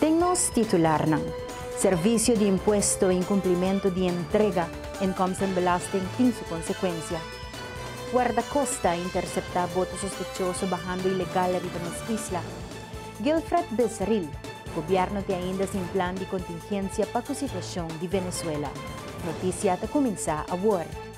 Den nos titularnan, Servicio di Impuesto, Incumplimiento di Entrega, Inkomsten en Belasting tin su consecuencia. Guardacosta a intercepta boto sospechoso bahando ilegal riba nos isla. Gilfred Becerril, Gobierno tin ainda sin plan di contingencia pa cu situacion di Venezuela. Noticia ta cuminsa awor.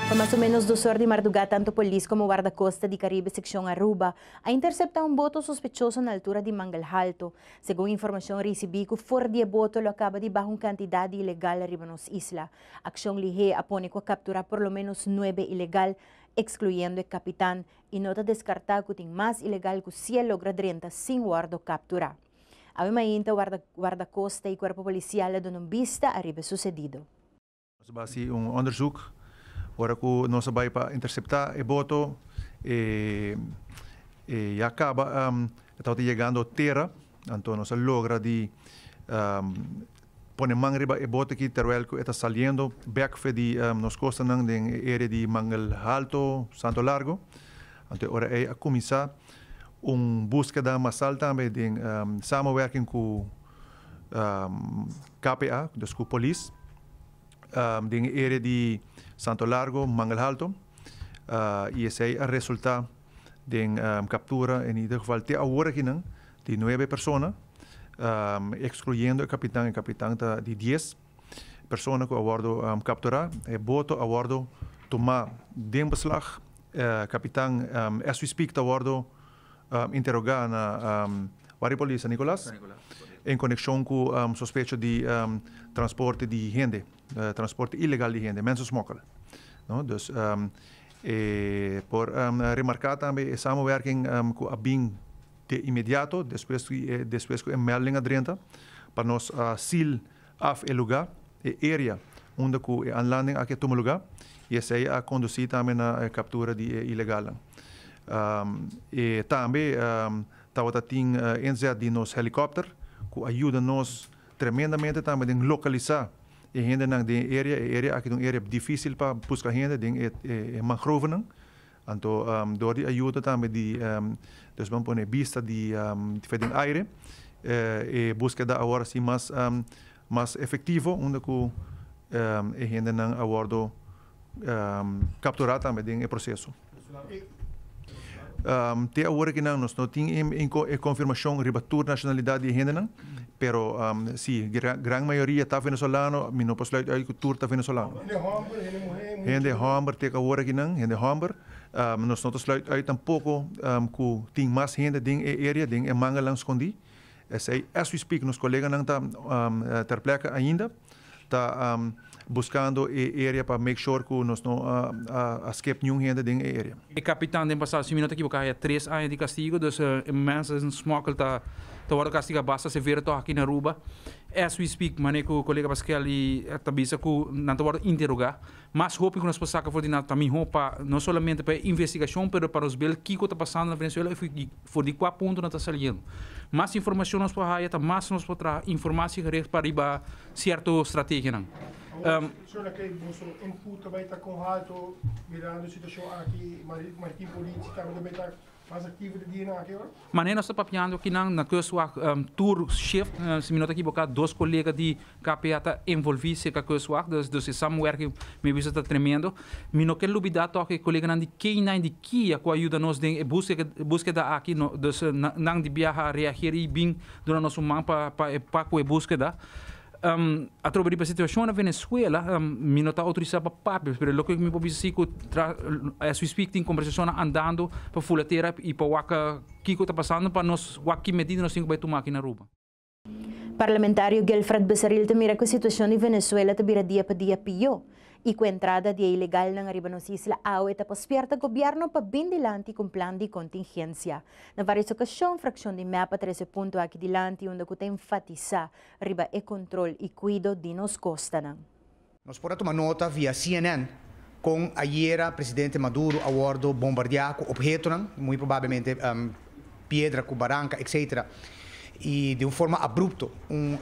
Pa mas o menos dos or di mardugá tantu polis komo Wardakosta di Karibe sekshon Aruba a interseptá un boto sospechoso na altura di Manglhalto. Segun informashon risibí ku for di e boto lo a kaba di baha un kantidat di ilegal riba nos isla. Akshon Lihé a pone ku a kapturá por lo ménos nuebe ilegal, ekskluyendo e kapitan, i no ta deskartá ku tin mas ilegal ku si a logra drenta sin wòrdu kapturá. Awe mainta wardakosta i kuerpo polisial a duna un bista ariba e susedido. Nos a basi un onderzoek ora cu nos a bay pa intercepta e boto e ya caba e tabata yegando tera, anto nos a logra di pone man riba e boto aki terwel cu e ta saliendo bek fe di nos costanan den e area di Mangel Alto, Santo Largo. Anto e ora ey a cuminsa un buskeda masal tambe den samenwerking cu. KPA, dus ku polis den e area di Santo Largo, Manglhalto, i esei a resulta den kaptura, en ieder geval te awor akinan, di nuebe persona, ekskluyendo e kapitan, e kapitan ta di dies persona ku a wòrdu kapturá, e boto a wòrdu tumá den beslag, e kapitan as we speak ta wòrdu. interogá na Wario Polis San Nicolas en konekshon ku sospecho di transporte di hende, transporte ilegal di hende, mensensmokkel. Dus e por remarká tambe e samenwerking ku a bin de inmediato despues ku e melding a drenta pa nos a seal. Af e lugá, e area, unda ku e anlanding aki a tuma lugá i esei a kondusí tambe na e kaptura di e ilegalnan. E tambe tabata tin inzet di nos helikòpter ku a yuda nos tremendamente tambe den lokalisá e hendenan den e area. E area aki ta un area difísil pa buska hende den e mangrovenan. Anto dor di ayuda tambe di Dios ban pone bista di fe den aire. E buskeda a wòrdu sin mas efektivo unda ku e hendenan a wòrdu kapturá tambe den e proseso. Te aworakinan nos no tin e konfirmashon riba tur nashonalidat di e hendenan. Pero si gran mayoria ta venezolano mi no por sluit uit ku tur ta venezolano. Hende homber te ka wor akinan, hende homber. Nos no ta sluit uit tampoko ku tin mas hende den e area, den e manganan skondí. Esei as we speak nos koleganan ta ter plèkka ainda. ta buskando e area pa make sure ku nos no a skep niun hende den e area. E kapitan den pasado si mi no ta ekiboká haya tres aña di kastigo, dus mens en smokkel ta ta wòrdu kastigá basta severo tòg aki na Aruba. As we speak manera ku kolega Pasquel ta bisa ku nan ta wòrdu interogá Mas hopi ku nos por saka for di nan ta mihó pa no solamente pa e investigashon pero pa nos bil kiko ta pasando na Venezuela i for di kua punto nan ta saliendo. Mas informashon nos por haya ta mas nos por traha informasi gericht pa riba sierto strategianan. Mas aktivo di dia na aki ora? Manera nos ta papiando akinan na Kustwacht tur shift, si mi no ta ekiboká dos kolega di KPA ta envolví serka Kustwacht, dus dus e samenwerking mi a bisa ta tremendo. Mi no ke lubidá tòg e koleganan di Kenia en di Kia ku a yuda nos den e búskeda búskeda aki, no dus nan di biaha a reageer i bin duna nos un man pa pa e pa ku e búskeda. Atrobe di situashon na Venezuela mi no ta outorisá pa papia, pero loke mi por bisa si ku as we speak tin kombersashonnan andando pa Fulatera i pa wak kiko ta pasando pa nos wak ki medida nos tin ku bai tuma aki na Aruba. Parlamentario Gelfrat Becerril ta mira ku e situashon di Venezuela ta bira dia pa dia pió i ku entrada di e ilegalnan ariba nos isla awe ta pa spierta gobièrnu pa bin dilanti ku un plan di kontingensia. Na vários okashon frakshon di mep a trese punto aki dilanti unda ku ta enfatisá riba e control y cuido di nos costanan. Nos por a tuma nota via cnn con ayera Presidente Maduro a wordo bombardea cu obhetonan, muy probablemente piedra cu baranca etc. Y di un forma abrupto un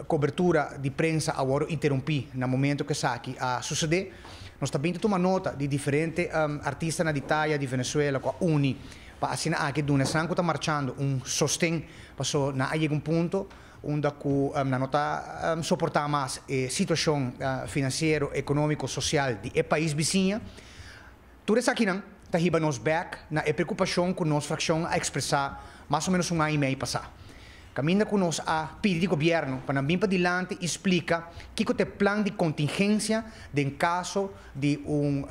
cobertura di prensa a wordo interumpi na momento cu esaki a sucede. Nos ta bin ta tuma nota di diferente artistanan di taya di Venezuela cu a uni. pa asina aki duna esnan ku ta marchando un sosten paso nan a yega un punto unda ku nan no ta soportá mas e situashon finansiero, ekonómiko, sosial di e pais bisiña. Tur esakinan ta hiba nos bèk na e preokupashon ku nos frakshon a ekspresá mas o ménos un aña i mei pasá. Caminda cu nos a pidi di gobierno pa nan bin padilanti y splica kico ta e plan di contingencia den caso di un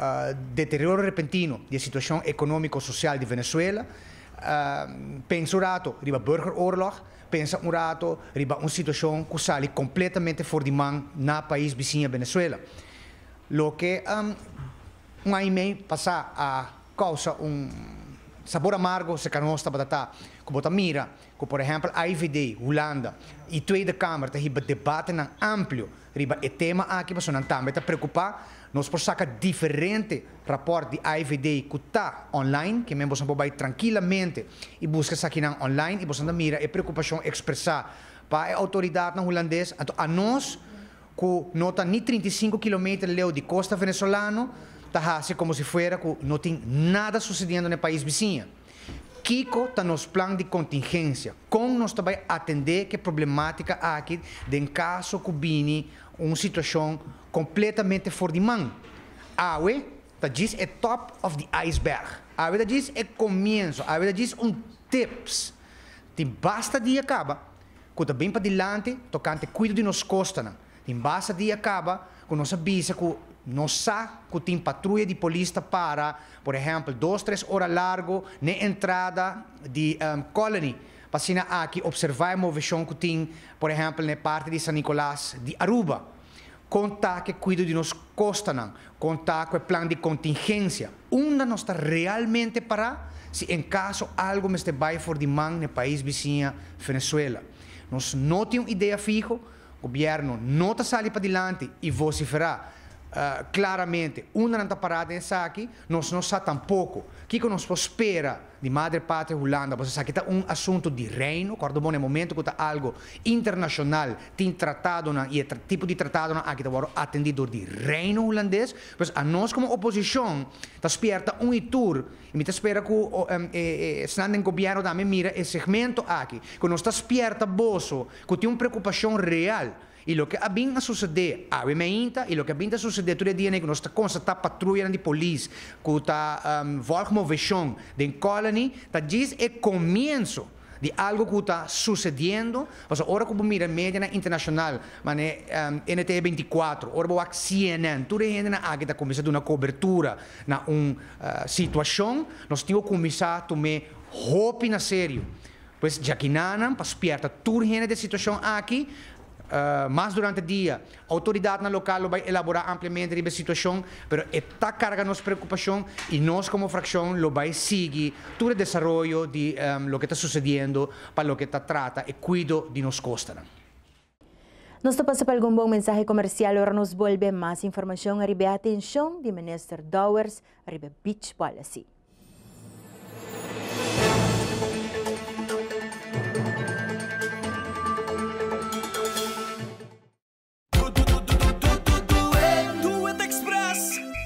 deterioro repentino di e situacion economico-social di Venezuela, pensa un rato riba burgeroorlog, pensa un rato riba un situacion cu sali completamente for di man na pais bisiña Venezuela. Loke un aña y mei pasa a causa un sabor amargo cerca nos tabatata cu bo ta mira ku por ehèmpel AIVD, Hulanda, i Tweede Kamer ta hiba debatenan amplio riba e tema aki pasobra nan tambe ta preokupá. Nos por saka diferente rapòrt di AIVD ku ta online, ke men bosan por bai trankilamente i buska esakinan online i bosan ta mira e preokupashon ekspresá pa e outoridatnan hulandes. Anto anos ku no ta ni trinta i sinku kilometer leu di kosta venesolano ta hasi komo si fuera ku no tin nada susediendo na e pais bisiña. Kiko ta nos plan di contingencia? Con nos ta bay atende ke problematica aki den caso cu bini un situacion completamente for di man? Awe ta djis e top of the iceberg. Awe ta djis e comienzo. Awe ta djis un tips. Tin basta dia caba cu ta bin pa dilanti tocante cuido di nos costanan. Tin basta dia kaba ku nos a bisa ku nos sa ku tin patruya di polis ta para, por ehèmpel, dos tres ora largu n'e entrada di Colony pa asina aki opservá e moveshon ku tin, por ehèmpel, n'e parti di San Nicolas di Aruba. Kon ta ku e kuido di nos kostanan? Kon ta ku e plan di kontingensia? Unda nos ta realmente pará si en kaso algu mester bai for di man n'e pais bisiña Venezuela? Nos no tin un idea fiho. Gobièrnu no ta sali padilanti i vosiferá klaramente unda nan ta pará den esaki, nos no sa tampoko kiko nos por spera di Madre Patria Hulanda, pasobra esaki ta un asuntu di Reino. Kòrda bo na e momentu ku ta algu internashonal, tin tratadonan i e tipo di tratadonan aki ta wòrdu atendí dor di Reino Hulandes. Pues anos komo oposishon ta spièrta un i tur i mi ta spera ku esnan den Gobièrnu tambe mira e segmento aki, ku nos ta spièrta boso Cu tin un preocupacion real y loke a bin a sucede awe mainta y loke a bin ta sucede tur e dia n'ey cu nos ta constata patruyanan di polis cu ta volg movecion den Colony ta djis e comienzo di algo cu ta sucediendo pasobra ora cu bo mira medianan internacional mane NTE veinticuatro ora bo wak CNN tur e hendenan aki ta cuminsa duna cobertura na un situacion nos tin cu cuminsa tume hopi na serio Pues djakinánan pa spièrta tur hende den situashon aki. Mas durante dia, outoridatnan lokal lo bai elaborá ampliamente riba e situashon, pero e ta karga nos preokupashon i nos komo frakshon lo bai sigui tur e desaroyo di loke ta susediendo pa loke ta trata e kuido di nos kostanan. Nos ta pasa pa algun bon mensahe komersial ora nos bolbe. Mas informashon riba e atenshon di Minister Dowers riba Beach Policy.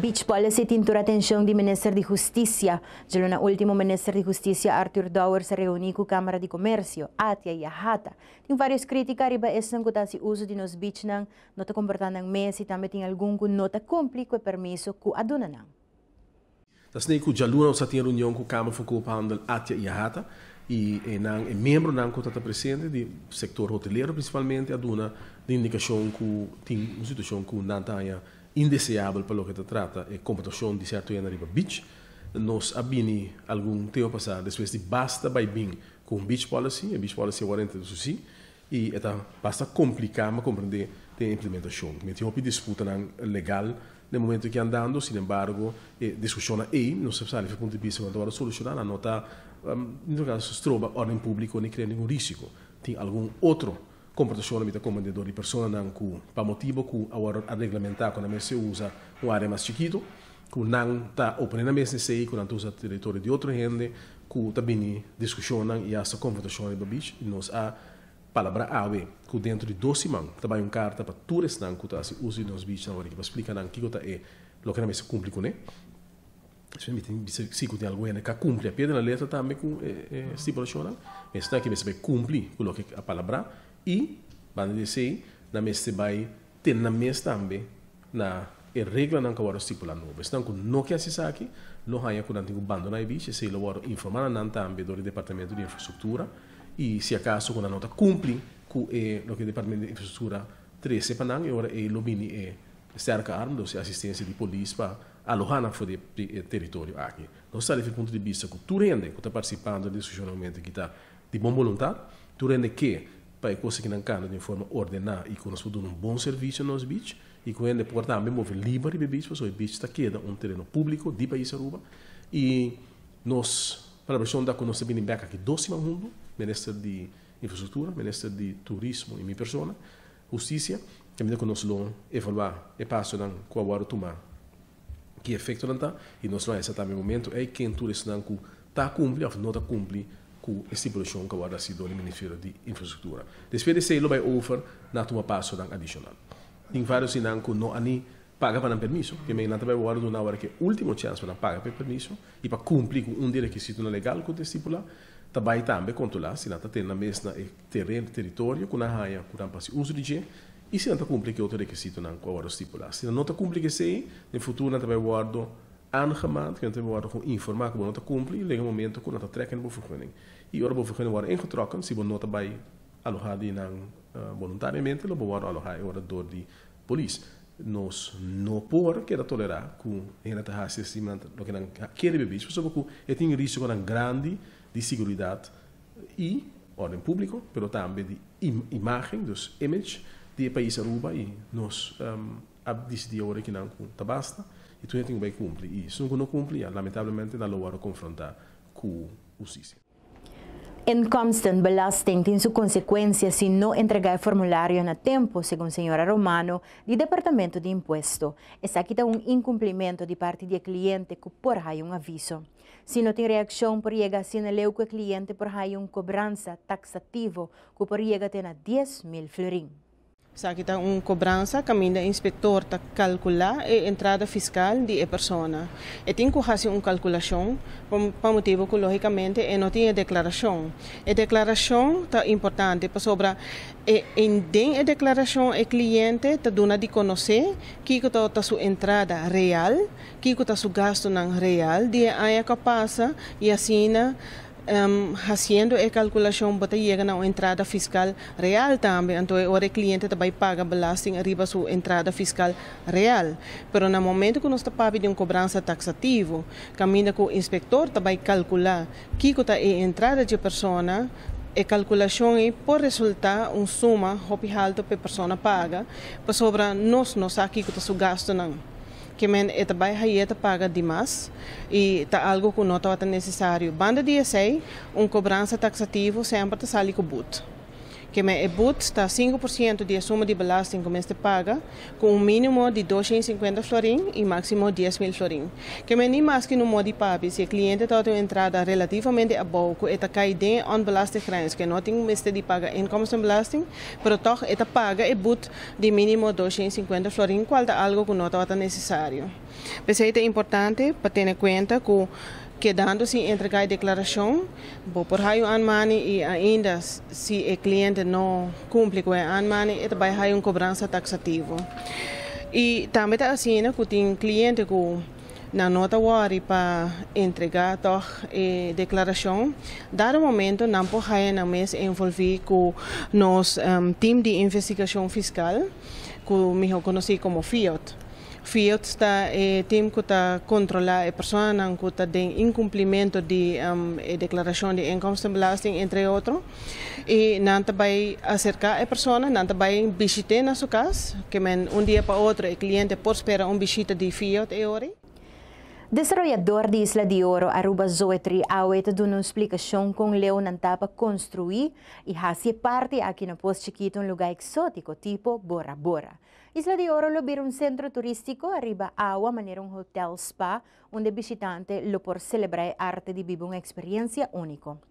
Beach Policy tin tur atenshon di Minister di Hustisia. Djelo na ultimo Minister di Hustisia Arthur Dowers a reuní ku Kamara di Komersio, Atia i Ahata. Tin vários krítika riba esnan ku ta hasi uso di nos beachnan, no ta komportá nan mes i tambe tin algun ku no ta kumpli ku e permiso ku a duna nan. Esnan ku djaluna nos a tin reunion ku Kamer for Koophandel Atia i Ahata i e nan e miembronan ku ta ta presente di sektor hotelero prinsipalmente a duna di indikashon ku tin un situashon ku nan ta haña indeseabel pa loke ta trata e komportashon di sèrto hende riba beach. Nos a bini algun tempu pasá despues di basta bai bin ku un beach policy, e beach policy awor a yenta ta susí. I e ta basta kompliká pa komprendé den implementashon. Ta mete hopi disputanan legal den momentu aki andando. Sin embargo, e diskushonnan ei, nos ta sa di punto di bista ku nan ta wòrdu solushoná, nan no ta stroba òrden públiko ni krea ningun risiko. Tin algun otro komportashon nan mester komprendé dor di personanan ku pa motibu ku a wòrdu a reglamentá ku nan mester usa un área mas chikitu. ku nan ta oponé nan mes na esei, ku nan ta usa teritorio di otro hende, ku ta bini diskushonnan i asta konfrontashon riba bich, i nos a palabrá awe ku dentro di dos siman ta bai un karta pa tur esnan ku ta hasi uso di nos bichnan orinke pa splika nan kiko ta e loke nan mester kumpli kuné. Esei mi tin bisa si ku tin algun hende ka kumpli a pie di la letra tambe ku e stipulashonnan, mi esnan ke mester bai kumpli ku loke a palabrá i banda di esei nan mester bai Tin nan mes tambe na e reglanan ku a wòrdu stipulá nobo. Esnan ku no ke hasi esaki, lo haña ku nan tin ku bandoná e bichi, esei lo wòrdu informá na nan tambe dor e Departamentu di Infrastruktura, i si akaso ku nan no ta kumpli ku e loke e Departamentu di Infrastruktura trese pa nan, e ora ei lo bini e sterke arm, dos'i asistensia di polis pa alohá nan for di e teritorio aki. Nos ta habl'é dje punto di bista ku tur hende ku ta partisipá dor e diskushonnan ku hende ku ta Di bon boluntat, tur hende ke pa e kos aki nan kanta di un forma ordená i ku nos por duna un bon servisio na nos bich i ku hende por tambe move liba riba e bich pasobra e bich ta keda un tereno públiko di pais Aruba i nos planifikashon ta ku nos ta bini bèk aki dos siman huntu, Minister di Infrastruktura, Minister di Turismo i mi persona, Hustisia, tambe ta ku nos lo evaluá e pasonan ku a wòrdu tumá. ki efektonan ta i nos lo hesa tambe momentu ei ken tur esnan ku ta kumpli òf no ta kumpli ku e stipulashion ku a wòrdu hasi dor di Ministerio di Infrastruktura. Despues di esei lo bai over na tuma pasonan adishonal. Tin vários di nan ku no a ni paga pa nan permiso, p'emei nan ta bai wòrdu duna awor ke último chèns pa nan paga pa e permiso i pa kumpli ku un di e rekisitonan legal ku ta estipulá, ta bai tambe kontrolá si nan ta tene nan mes na e teren, teritorio, ku nan haña ku nan pa hasi uso di dje. I si nan ta kumpli ke otro rekisitonan ku awor lo stipulá? Si nan no ta kumpli ku esei, den futuro nan ta bai wòrdu aangemaand ku nan ta bai wòrdu kon informá ku bo no ta kumpli i luego e momentu ku nan ta trèk na bo ferguning. I ora bo ferguning wòrdu ingetròken, si bo no ta bai alohá di nan boluntariamente, lo bo wòrdu alohá e ora dor di polis. Nos no por keda tolerá ku hende ta hasi asina loke nan kere bebé, pasobra ku e tin risikonan grandi di seguridat y orden publico pero tambe di imagen dus image di e pais Aruba y nos a dicidi awor aki nan cu ta basta y tur hende tin cu bay cumpli y esun cu no cumpli ya lamentablemente nan lo worde confronta cu husticia. Incomstant belasting tin su consecuencia si no entrega e formulario na tempo, segun señora Romano di Departamento di Impuesto. Esaki ta un incumplimento di parti di e cliente cu por hay un aviso. Si no tin reakshon por yega asina leu ku e kliente por haña un kobransa taksativo ku por yega te na dies mil florin. Esaki ta un kobransa kaminda e inspektor ta kalkulá e entrada fiskal di e persona. E tin ku hasi un kalkulashon pa motibu ku lógikamente e no tin e deklarashon. E deklarashon ta importante pasobra e den e deklarashon e kliente ta duna di konosé kiko ta su entrada real Kico ta su gastonan real di e aña cu a pasa y asina haciendo e calculacion bo ta yega na un entrada fiscal real tambe. Anto e ora e cliente ta bay paga belasting riba su entrada fiscal real. Pero na momento cu nos ta papia di un cobransa taxativo caminda cu inspector ta bay calcula kico ta e entrada dje persona, e calculacion ey por resulta un suma hopi halto pa e persona paga pasobra nos no sa kico ta su gastonan. ke men e ta bai haye ta paga di mas y ta algo cu no tabata necesario. Banda di esey, un cobransa taxativo semper ta sali cu boet, ke men e boet ta sinku por ciento di e suma di belasting cu mester paga, cu un minimo di dosha y cincuenta florin y maximo dies mil florin. Ke men ni maske no modi pabi si e cliente tabata un entrada relativamente abou cu e ta cay den e onbelaste grens ke no tin mester di paga inkomstenbelasting, pero toch e ta paga e boet di minimo dosha i sinkuenta florin kual ta algu ku no tabata nesesario. P'esei ta importante pa tene kuenta ku kedando sin entregá e deklarashon bo por haya un anmani i ainda si e kliente no kumpli ku e anmani e ta bai haya un kobransa taksativo. I tambe ta asina ku tin kliente ku. Nan no ta wòri pa entregá tòg e deklarashon. Dado momento nan por haya nan mes envolví ku nos Tim di Investigashon Fiskal, ku mihó konosí komo FIOT. FIOT ta e tim ku ta kontrolá e personanan ku ta den inkumplimentu di e deklarashon di inkomstenbelasting, entre otro. I nan ta bai aserká e persona, nan ta bai bishit'é na su kas, ke men un dia pa otro e kliente por spera un bishita di Fiat e ora ei. Desaroyador di Isla di Oro, Aruba Zoe Triawe ta duna un splikashon kon leu nan ta pa konstruí i hasi e parti aki na Pos Chikitu un lugá eksótiko tipo Bora Bora. Isla di Oro lo bira un sentro turístiko ariba awa manera un hotel-spa unda bishitante lo por selebrá e arte di biba un eksperiensia úniko.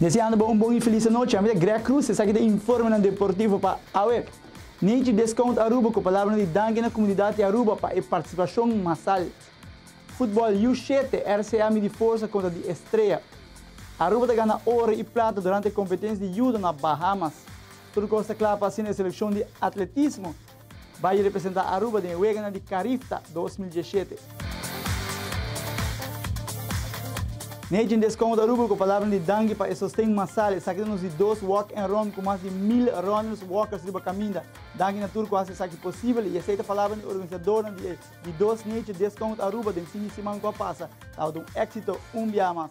Deseando bo un bon y feliz anochi. Ami ta Greg Cruz, esaki ta informenan deportivo pa Aweb! Nature Discount Aruba cu palabranan di danki na comunidad di Aruba pa e participacion masal. Football U shete, RCA midi forsa contra di Estrella. Aruba ta gana oro y plata durante competencia di Judo na Bahamas. Tur cos ta cla pa asina e seleccion di Atletismo. Bayi representá Aruba den e weganan di Carifta dos mil diesshete. Nejen descon ta Aruba cu palabran di danki pa e sosten masal, esaki ta nos di dos walk and run cu mas di mil runners, walkers riba caminda. Danki na tur cu haci esaki posibel y esey ta palabran di organisadornan di e di dos nejen descon Aruba den fin di siman cu a pasa. Tabata un exito un biaha mas.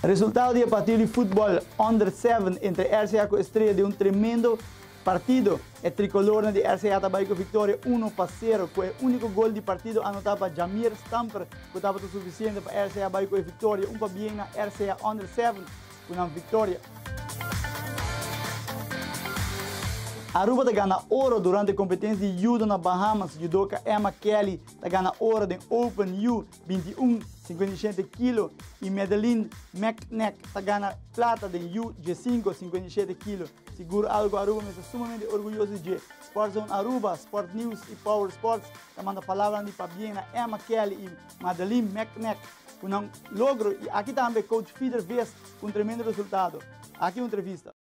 Resultado di e partido di futbol Under Seven entre RCA cu Estrella di un tremendo Partido. E Tricolornan di RCA ta bay cu victoria uno pa cero cu e unico gol di partido anota pa Jamir Stamper cu tabata suficiente pa RCA bay cu e victoria un pa bien na RCA Under Seven cu nan victoria. Aruba ta gana oro durante competencia di Judo na Bahamas, Judoka Emma Kelly ta gana oro den Open U binti i un, sinkuenta i shete, kilo i Madeline Meknek ta gana plata den U djesinku, sinkuenta i shete, kilo. Sigur Algo Aruba mester sumamente orguyoso di dje. Sport Zone Aruba, Sport News i Power Sports ta manda palabranan di pabien na Emma Kelly i Madeline Meknek ku nan logro i aki tambe coach Fieder Ves ku un tremendo resultado. Aki un entrevista.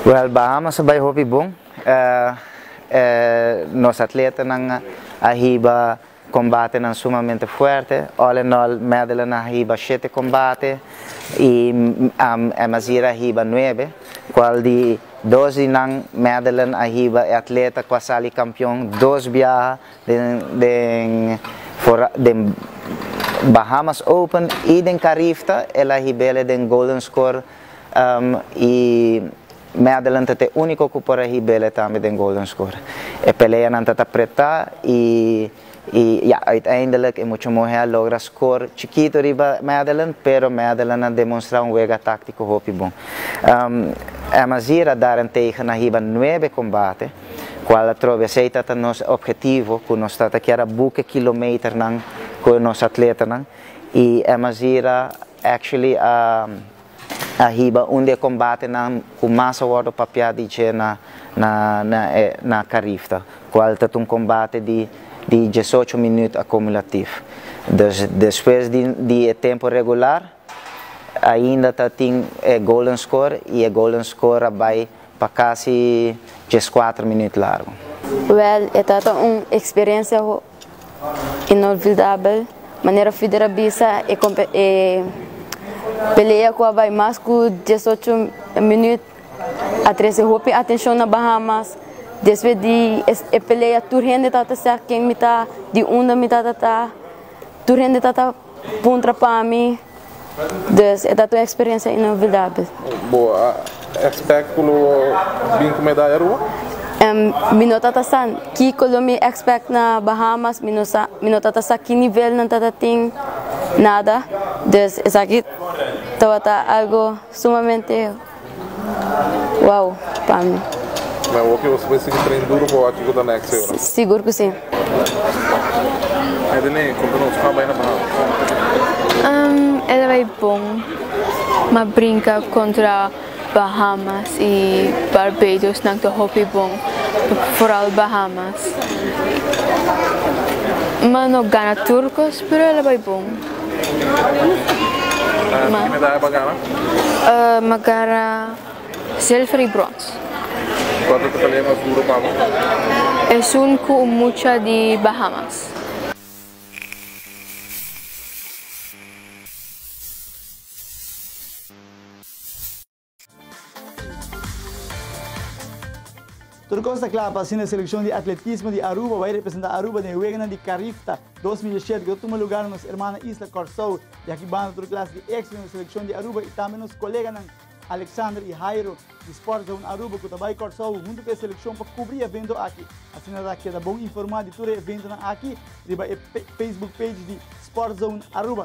Well Bahamas a bai hopi bon, nos atletanan a hiba Kombatenan sumamente fuerte. All in all Madeline a hiba shete kombate i Emazira a hiba nuebe, kual di dos di nan Madeline a hiba e atleta ku a sali kampion dos biaha den den Bahamas Open i den Carifta, el a hib'e den Golden Score i. Me adelanta t'e úniko ku por a hib'ele tambe den Golden Score. E peleanan ta ta pretá i i ya, uiteindelik e mucha muhé a logra score chikito riba Me Adelan pero Me Adelan a demonstrá un wega táktiko hopi bon. Emma Zier a dara Nteiga na hiba nuebe kombate, kual atrobe esei ta ta nos opgetivo ku nos ta ta kier a buke kilometernan ku nos atletanan i Emma Zier a actually a a hiba un di e kombatenan ku mas a wòrdu papiá di dje na karifta, kual ta ta un kombate di diesocho minüt akumulativ. Dus despues di e tempu regular ainda ta tin e golden score i e golden score a bai pa kasi dieskuater minüt largu. Wèl e ta ta un eksperensia Inolvidabel manera Fider a bisa e pelea cu a bay mas cu diesocho minuut a trece hopi atencion na Bahamas despues di e pelea tur hende tabata sa ken mi ta di unda mi tabata tur hende tabata. Puntra pa mi, dus e ta ta un experiencia inolvidable. Bo a expect cu lo bin cu medaya Rua? Mi no ta ta sa kico lo mi expect na Bahamas, mi no sa, mi no ta ta sa ki nivel nan ta ta tin, nada, dus esaki tabata algo sumamente. Wow, pa mi. Na wak e oso bai sigui train duro pa wak kiko ta next e ora. Sigur cu si. Adeline, conta nos, cu a bai na Bahamas? Um, e ta bai bon. M'a brinca contra Bahamas y Barbados, nan ta hopi bon. Vooral Bahamas. M'a no gana tur cos, pero el a bai bon. Magara silver y brons. Esun cu un mucha di Bahamas. Tur kos ta kla pa asina e selekshon di atletismo di Aruba bai representá Aruba den e weganan di Carifta dos mil dieshiete ku ta tuma lugar na nos ermana isla Kòrsou. Di aki banda tur klas di éksito den e selekshon di Aruba i tambe nos koleganan Alexander i Jairo di Sport Zone Aruba ku ta bai Kòrsou huntu ku e selekshon pa kubrí e evento aki. Asina ta keda bon informá di tur e eventonan aki riba e Facebook page di Sport Zone Aruba.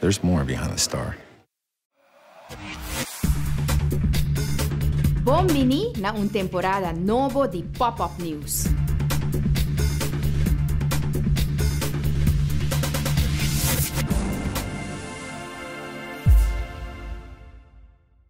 There's more behind the star. Bon bini na un temporada nobo di Pop Up News!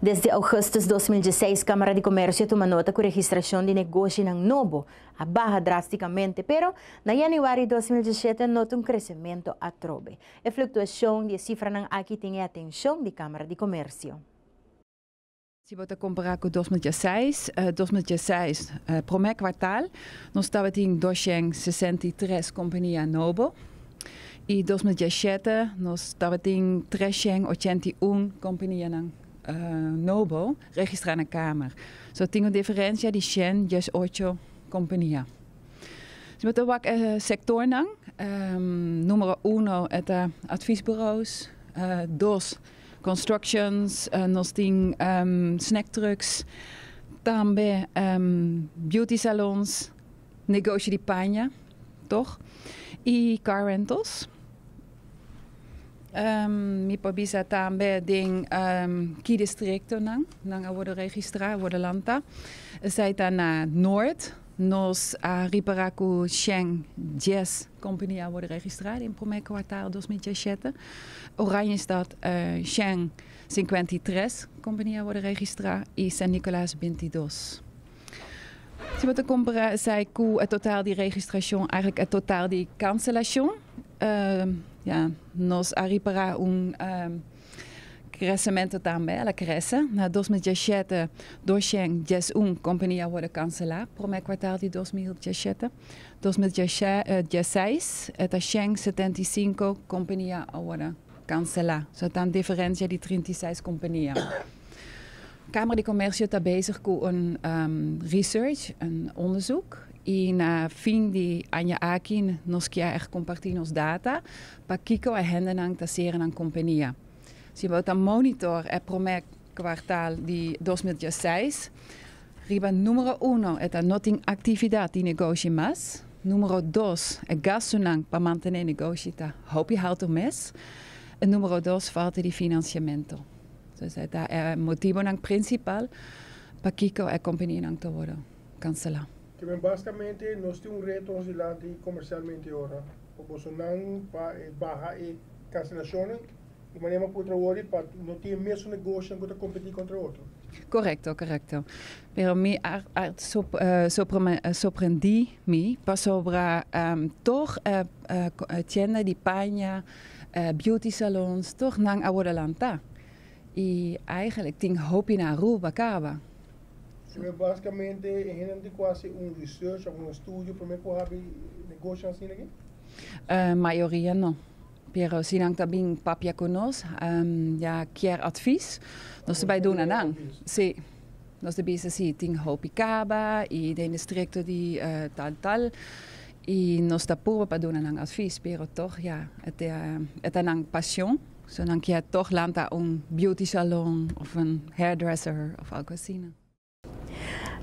Desde augustus dos mil dieseis Camara di Comercio tuma nota cu registracion di negoshinan nobo a baha drasticamente, pero na januari dos mil diesiete a nota un crecemento atrobe. E fluctuacion di e cifranan aki tin e atencion di Camara di Comercio. Si bo ta compara cu dos mil diesseis, dos mil diesseis prome cuartal nos tabatin doshen sesenta i tres compania nobo y dos mil dieschete nos tabatin treshen ochenta i un companianan nobo registra na Camara. So tin un diferencia di shen diesocho compania. Si bo ta wak e sektornan, numero uno e ta advisbureaus, dos constructions, nos tin snack trucks, tambe beauty salons, negoshi di paña, tog, i car rentals. Mi por bisa tambe den ki distriktonan nan a worde registrá, a worde lanta, esei ta na Noord, Nos a ripará ku shen dies kompani a wòrdu registrá den promé kuartal dos mil dieshete. Oranjestad shen sinkuenta i tres kompani a wòrdu registrá i San Nicolas bintidos. Si bo ta kompará esei ku e total di registrashon, eigentlik e total di kanselashon, ya, nos a ripará un Kresementu tambe, el a krese. Na dos mil diesete, doshen dies un kompania a worde kanselá promé kwartal di dos mil diesete. Dos mil diesseis e ta shen setenta i sinku kompania a worde kanselá. So e ta un diferensia di trinta i seis kompania. Kamera di Komersio ta bezig ku un research, un ondesuk, i na fin di aña aki nos kier kompartí nos data Pakiko e hendenan ta sera nan kompenia? Si bo ta monitor e promé kuartal di dos mil diesseis, riba numero uno e ta no tin aktividat di negoshi mas, numero dos e gastunan pa mantené negoshi ta hopi haltu mes i numero dos falta di finansiamentu. Esei ta e motibonan prinsipal pakiko e kompenianan ta wòrdu. cancelá. Kiben basicamente nos tin un reto nos dilanti comercialmente ora pa boso nan pa e baha e cancelacionnan y manera m'a puntra wordie pa no tin e mesun negoshonan cu ta competi contra otro. Correcto, correcto. Pero mi a sorprendi mi pasobra toch e tienda di paña, beauty salons toch nan a word a lanta y eigenlijk tin hopi na Aruba caba. Pero basicamente e hende tin cu haci un research of un estudio prome cu habi negocio asina aquí? Uh, mayoria no. Pero si nan ta bin papia cu nos, um, ya kier advies, nos ta bai duna nan. Si. Nos ta bisa si tin hopi caba y den distrito di uh, tal tal. Y nos ta purba pa duna nan advies, pero toch ya, e ta, e ta nan pasion. So nan kier tog lanta un beauty salon of un hairdresser of algo asina.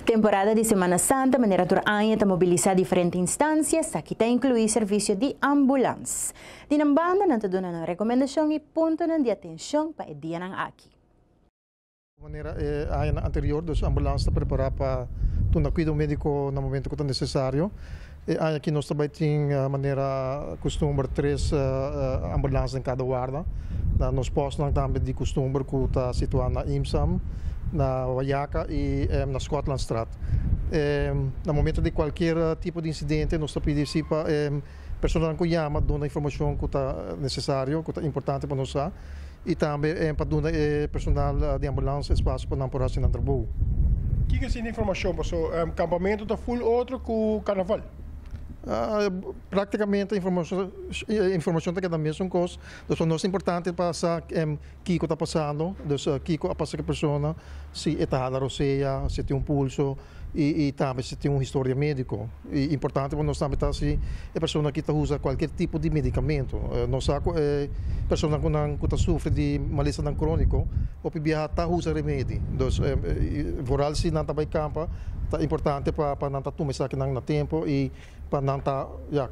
Temporada di Semana Santa manera tur aña ta mobilisa diferente instancia, esaki ta inclui servicio di ambulans. Di nan banda nan ta duna nan recomendashon y puntonan di atencion pa e dianan aki. Ku manera e añanan anterior dos ambulans ta prepará pa duna kuido médiko na momentu ku ta nesesario. E aña aki nos ta bai tin manera kustumber tres ambulans den kada warda. Na nos pòstnan tambe di kustumber ku ta situá na Imsam, na Wayaka i na Skotlandstraat. Na momentu di kualkier tipo di insidente nos ta pidi si pa e personanan ku yama duna informashon ku ta nesesario, ku ta importante pa nos sa. Y tambe pa duna e personal di ambulance espacio pa nan por haci nan trabou. Kiko asina e informacion paso campamento ta full otro cu carnaval? Practicamente e informacion ta keda mesun cos, dus pa nos ta importante pa sa kiko ta pasando, dus kiko a pasa cu e persona, si e ta hala rosea, si tin un pulso y tambe si tin un historia medico. E importante pa nos tambe ta si e persona ki ta usa kualkier tipo di medikamento. Nos sa ku e personanan ku ta sufri di malestanan króniko hopi biaha ta usa remedi. Dus vooral si nan ta bai kampa ta importante pa nan ta tuma esakinan na tempu i pa nan ta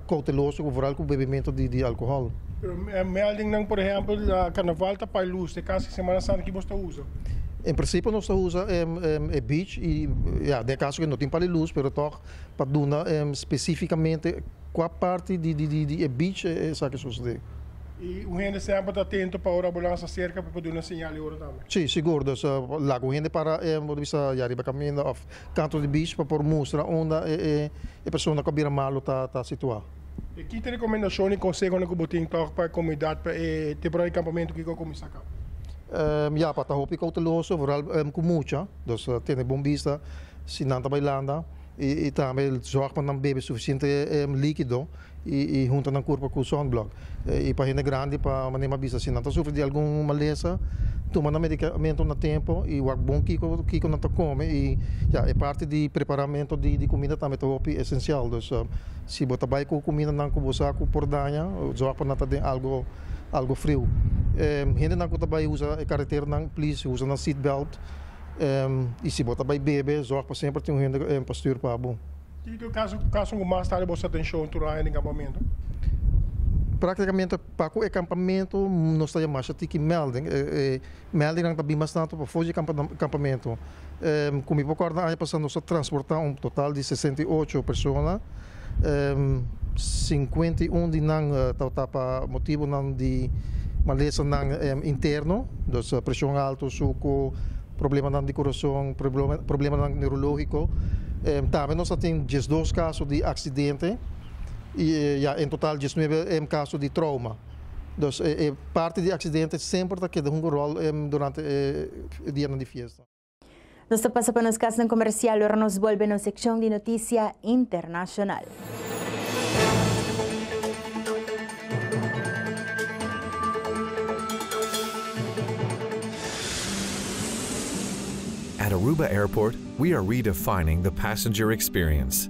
kouteloso vooral ku bebementu di alkohòl. Pero mi aldennan, por ehèmpel, Karnaval ta pai lus, ta e kas di Semana Santa, kico bo ta usa? en principio nos ta usa e beach y ya den e caso que no tin pali luz pero toch pa duna specificamente cua parti di e beach esaki sucede. Y un hende semper ta atento pa ora bo lansa cerca pa bo duna señal e ora tambe? Si, sigur, dus laga un hende para bo ta bisa ya riba caminda of canto di beach pa por mustra unda e persona cu a bira malo ta situa. E kiko rekomendashon i konsehonan ku bo tin tòg pa e komunidat pa e temporada di kampamentu ku a kuminsá kaba? Ya, pa ta hopi kouteloso, vooral ku mucha. Dus tene bon bista si nan ta bai landa i tambe zòg pa nan bebe sufisiente líkido i hunta nan kurpa ku sònblòk. I pa hende grandi pa manera mi a bisa si nan ta sufri di algun malesa tuma nan medikamentunan a tempu i wak bon kiko kiko nan ta kome i ya e parti di preparamentu di kumida tambe ta hopi esensial. Si bo ta bai ku kumindanan ku bo sa ku por daña, zòrg pa nan ta den algu algu friu. Hendenan ku ta bai usa e kareteranan, please usa nan seatbelt. I si bo ta bai bebe, zòrg pa semper tin un hende pa stuur pa bo. Tin ki kaso ku kasonan ku mas tardi bo sa den shou tur aña den kampamentu? Praktikamente pa ku e kampamentu nos ta yamasha tiki melding. Meldinan ta bin bastante pa for di e kampamentu. Ku mi por kòrda aña pasá nos a transportá un total di sesenta i ocho persona. Sinkuenta i un di nan tabata pa motibunan di malesanan interno, dus preshon alto, suku, problemanan di kurason, problemanan neurológiko. Tambe nos a tin diesdos kaso di aksidente i ya en total diesnuebe kaso di trouma. Dus e e parti di aksidente semper ta keda hunga ròl durante e dianan di fiesta. Nos ta pasa pa nos kasnan komersial ora nos bolbe nos sekshon di notisia internashonal. At Aruba Airport we are redefining the passenger experience.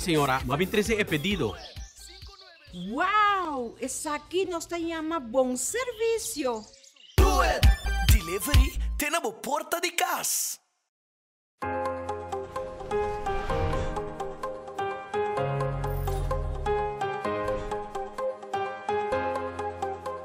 Señora, bo a bin trece e pedido. Wow! Esaki nos ta yama bon servicio! Do it! Delivery te na bo porta di cas!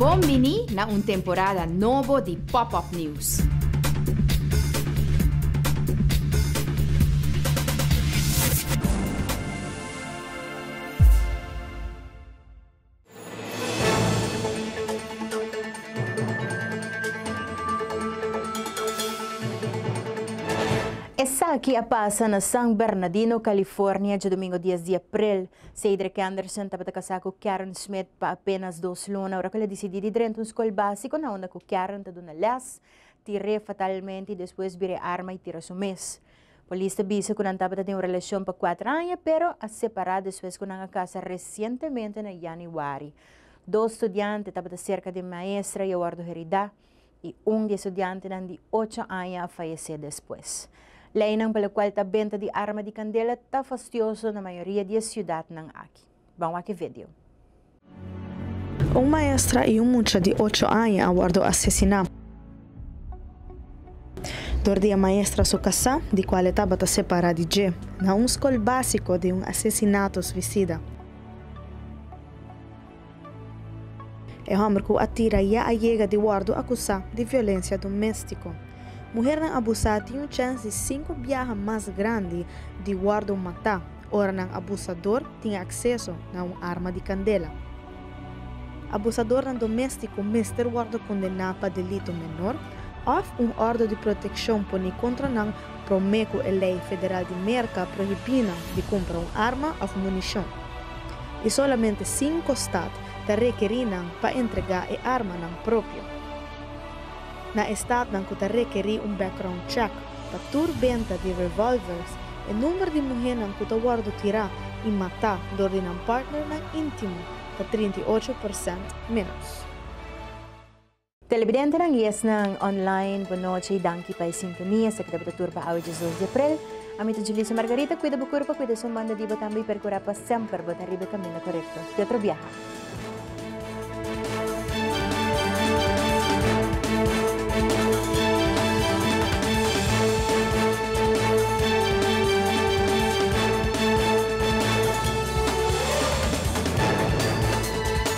Bon bini na un temporada nobo di Pop-Up News. Esaki a pasa na San Bernadino, California, djadomingo dies di april. Cedric Anderson tabata casá cu Karen Smith pa apenas dos luna ora cu el a dicidí di drenta un scol básico na unda cu Karen ta duna les, tir'é fatalmente y despues bir'é arma y tira su mes. Polis ta bisa cu nan tabata den un relacion pa cuater aña pero a separá despues cu nan a casa recientemente na Januari. Dos studiante tabata cerca di un maestra y a wordo heridá. i un di e studiantenan di ocho aña a fayesé despues. Leinan palokual ta benta di arma di kandela ta fastioso na mayoria di e siudatnan aki. Ban wak e video. Un maestra i un mucha di ocho aña a wòrdu asesiná dor di e maestra su kasá, di kual e tabata separá di dje, na un skol básiko di un asesinato suisida. E hòmber ku a tira ya a yega di wòrdu akusá di violensia doméstiko. Muhernan abusá tin un chèns di sinku biaha mas grandi di wòrdu matá ora nan abusador tin akseso na un arma di kandela. Abusadornan doméstiko mester wòrdu kondená pa delitu menor òf un òrdu di protekshon poné kontra nan Promé ku e lei federal di Merka prohibí nan di kumpra un arma òf munishon, i solamente sinku stat ta rekerí nan pa entregá e armanan propio. Na e statnan ku ta rekerí un background check pa tur benta di revòlvers, e number di muhénan ku ta wòrdu tirá i matá dor di nan partnernan íntimo ta trinta i ocho persènt ménos. Telebidentenan i esnan online, bo nochi i danki pa e sintonia. Esaki ta bo ta tur pa awe diazoes di aprel. Ami ta Julissa Margarita. Kuida bo kurpa, kuida esun banda di bo tambe i perkurá pa semper bo ta riba e kaminda korekto. Di otro biaha.